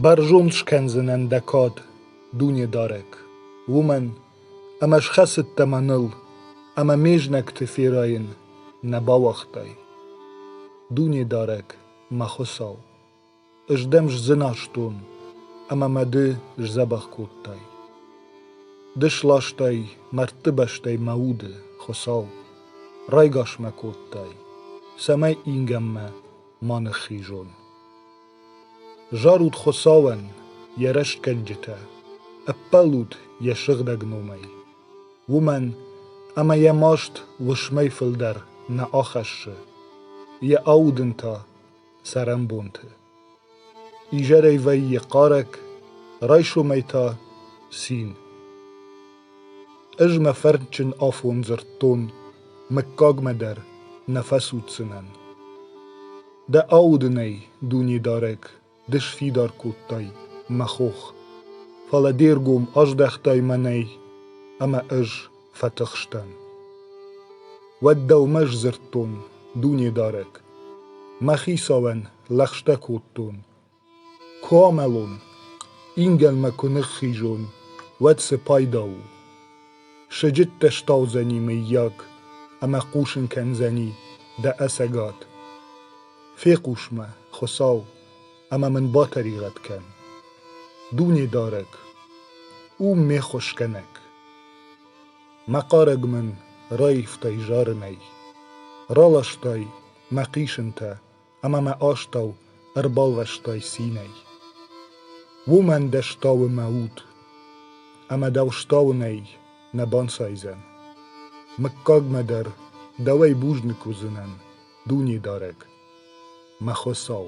Бӕрзонд скӕндзынӕн дӕ кад, Дунедарӕг, уымӕн, ӕмӕ схӕцыдтӕ мӕныл ӕмӕ ме знӕгты ферайын нӕ бауагътай. Дунедарӕг, мӕ Хуыцау, ӕз дӕм сдзыназтон ӕмӕ мӕ ды сдзӕбӕх кодтай. Ды сластай мӕрдтыбӕстӕй мӕ уды, Хуыцау, райгас мӕ кодтай, цӕмӕй ингӕнмӕ ма ныххизон. Зарут Хуыцауӕн йӕ рӕстгӕнджытӕ, ӕппӕлут йӕ сыгъдӕг номӕй, уымӕн ӕмӕ йӕ маст уысмӕй фылдӕр нӕ ахӕссы, йӕ аудын та цӕрӕнбонты. Изӕрӕй вӕййы хъарӕг, райсомӕй та цин. Ӕз мӕ фӕрдджын афон дзырдтон, мыггагмӕ дӕр нӕ фӕцуддзынӕн. Дӕ аудынӕй, Дунедарӕг, ды сфидар кодтай мӕ хох, фӕлӕ де ргом аздӕхтай мӕнӕй, ӕмӕ ӕз фӕтыхстӕн. Уӕд дӕумӕ сдзырдтон, Дунедарӕг, мӕ хицауӕн лӕгъстӕ кодтон Куы амӕлон, ингӕнмӕ куы ныххизон, уӕд цы пайда у? Сыджыттӕ стаудзӕни, мыййаг, ӕмӕ хъусын кӕндзӕни дӕ ӕцӕгад. Фехъус-ма, Хуыцау, ӕмӕ мын батӕригъӕд кӕн. Дунедарӕг, у ме хуыскӕнӕг. Мӕ хъарӕг мын раивтай зарынӕй, раластай мӕ хъисынтӕ ӕма мӕ астӕу ӕрбалвӕстай цийнӕй. Уомӕн дӕ стауы мӕ уд, ӕма дӕу стауынӕй нӕ банцайдзӕн. Мыггагмӕ дӕр дӕуӕй бузныг уыдзынӕн, Дунедарӕг, мӕ Хуыцау.